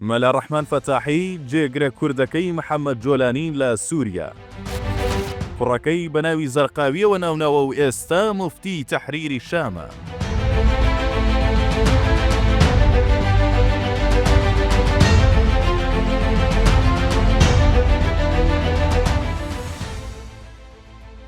مەلا ڕەحمان فەتاحی، جێگرە کوردەکەی محەمەد جۆلانی لە سووریا، کوڕەکەی بە ناوی زەرقاوییەوە ناوناوە و ئێستا موفتی تەحریری شامە.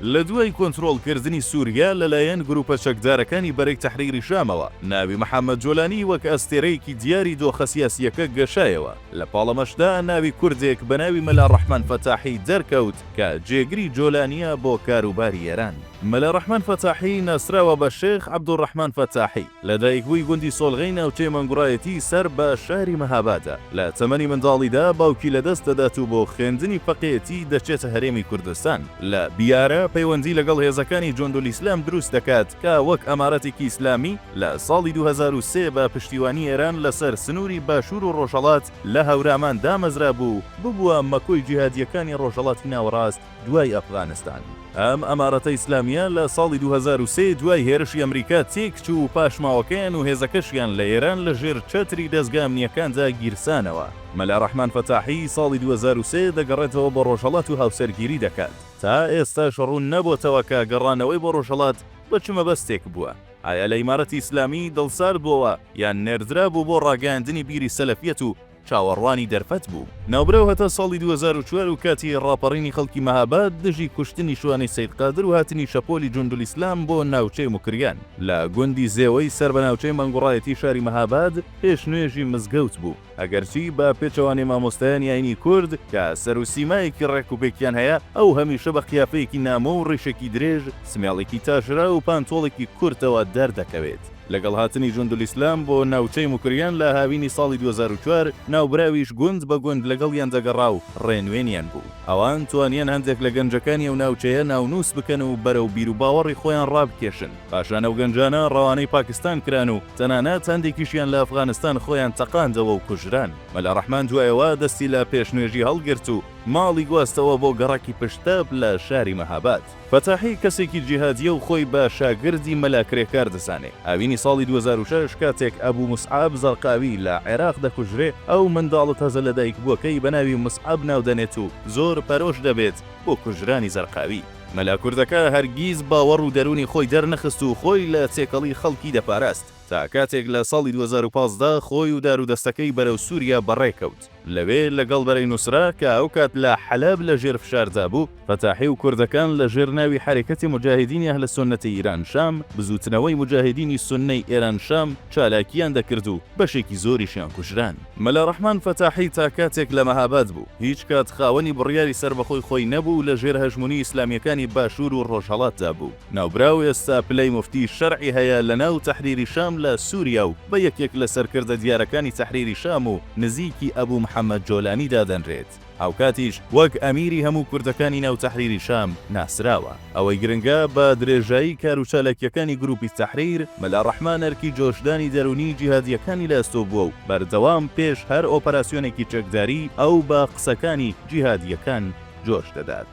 لە دوای کۆنترۆڵکردنی سووریا لەلایەن گرووپە چەکدارەکانی بەرەی تەحریری شامەوە، ناوی محەممەد جۆلانی وەک ئەستێرەیەکی دیاری دۆخە سیاسییەکە گەشایەوە، لە پاڵەمەشدا ناوی کوردێک بە ناوی مەلا ڕەحمان فەتاحی دەرکەوت کە جێگری جۆلانییە بۆ کاروباری ئێران. مەلا ڕەحمان فەتاحی ناسراوە بە شێخ عەبدولڕەحمان فەتاحی. لەدایکبووی گوندی سۆلغەی ناوچەی مەنگوڕایەتی سەر بە شاری مەهابادە، لە تەمەنی منداڵیدا باوکی لەدەست دەدات و بۆ خوێندنی فەقێیەتی دەچێتە هەرێمی کوردستان، لە بیارە پەیوەندی لەگەڵ هێزەکانی جوندولئیسلام دروست دەکات کە وەک ئەمارەتێکی ئیسلامی لە ساڵی دوو هەزار و سێ بە پشتیوانی ئێران لەسەر سنووری باشوور و ڕۆژهەڵات لە هەورامان دامەزرابوو و ببووە مەکۆی جیهادییەکانی ڕۆژهەڵاتی ناوەڕاست دوای ئەفغانستان ئەم ئەمارەتە ئیسلامیە لە ساڵی دوو هەزار و سێ دوای هێرشی ئەمریکا تێکچوو و پاشماوەکەیان و هێزەکەشیان لە ئێران لە ژێر چەتری دەزگا ئەمنیەکاندا گیرسانەوە. مەلا رەحمان فەتاحی ساڵی دوو هەزار و سێ دەگەڕێتەوە بۆ رۆژهەڵات و هاوسەرگیری دەکات. تا ئێستاش روون نەبۆتەوە کە گەڕانەوەی بۆ رۆژهەڵات بە چ مەبەستێک بووە؟ ئایا لە ئیمارەتی ئیسلامی دڵسارد بۆوە یان نێردرابوو بۆ راگەیاندنی بیری سەلەفیەت و چاوەڕوانی دەرفەت بوو. ناوبراو هەتا ساڵی دوو هەزار و چوار و کاتی ڕاپەڕینی خەڵکی مەهاباد دژی کوشتنی شوانەی سەید قادر و هاتنی شەپۆلی جوندولئیسلام بۆ ناوچەی موکریان لە گوندی زێوەی سەر بە ناوچەی مەنگوڕایەتی شاری مەهاباد پێش نوێژی مزگەوت بوو. ئەگەرچی بە پێچەوانەی مامۆستایانی ئاینی کورد کە سەر و سیمایەکی ڕێک و پێکیان هەیە، ئەو هەمیشە بە قیافەیەکی نامۆ و ڕیشێکی درێژ، سمێڵێکی تاشرا و پانتۆڵێکی کورتەوە دەردەکەوێت. لەگەڵ هاتنی جوندولئیسلام بۆ ناوچەی موکریان لە هاوینی ساڵی دوو هەزار و چوار، ناوبراویش گوند بە گوند لەگەڵیان دەگەڕا و ڕێنوێنیان بوو. ئەوان توانیان هەندێک لە گەنجەکانی ئەو ناوچەیە ناونووس بکەن و بەرەو بیروباوەڕی خۆیان ڕابکێشن. پاشان ئەو گەنجانە ڕەوانەی پاکستان کران و تەنانەت هەندێکیشیان لە ئەفغانستان خۆیان تەقاندەوە و کوژران. مەلا ڕەحمان دوای ئەوە دەستی لە پێشنوێژی هەڵگرت و ماڵی گواستەوە بۆ گەڕەکی پشتتەپ لە شاری مەهاباد. فەتاحی کەسێکی جیهادیە و خۆی بە شاگردی مەلا کرێکار دەزانێ. هاوینی ساڵی دوو هەزار و شەش کاتێک ئەبو موسعەب زەرقاوی لە عێراق دەکوژرێ، ئەو منداڵە تازە لەدایکبووەکەی بە ناوی موسعەب ناو دەنێت و زۆر پەرۆش دەبێت بۆ کوژرانی زەرقاوی. مەلا کوردەکە هەرگیز باوەڕ و دەروونی خۆی دەرنەخست و خۆی لە تێکەڵی خەڵکی دەپاراست تا کاتێک لە ساڵی دوو هەزار و پازدە خۆی و دارودەستەکەی بەرەو سوریا بەڕێکەوت. لەوێ لەگەڵ بەرەی نوسرە کە ئەوکات لە حەلەب لە ژێر فشاردا بوو، فەتاحی و کوردەکان لە ژێر ناوی حەرەکەتی موجاهیدینی ئەهل سوننەتی ئیران شام، بزووتنەوەی موجاهیدینی سوننەی ئێران شام، چالاکییان دەکرد و بەشێکی زۆریشیان کوژران. مەلا ڕەحمان فەتاحی تا کاتێک لە مەهاباد بوو، هیچ کات خاوەنی بڕیاری سەربەخۆی خۆی نەبوو و لە ژێر هەژموونی ئیسلامییەکانی باشوور و ڕۆژهەڵاتدا بوو. ناوبراو ئێستا پلەی موفتی شەرعی هەیە لە ناو تەحریری شام لە سوریا و بە یەکێک لە سەرکردە دیارەکانی تەحریری شام و نزیکی ئەبو محەمەد جۆلانی دادەنرێت، هاوکاتیش وەک ئەمیری هەموو کوردەکانی ناو تەحریری شام ناسراوە. ئەوەی گرنگە بە درێژایی کار و چالاکییەکانی گروپی تەحریر، مەلا ڕەحمان ئەرکی جۆشدانی دەروونیی جیهادییەکانی لە ئەستۆ بووە و بەردەوام پێش هەر ئۆپەراسیۆنێکی چەکداری ئەو بە قسەکانی جیهادییەکان جۆش دەدات.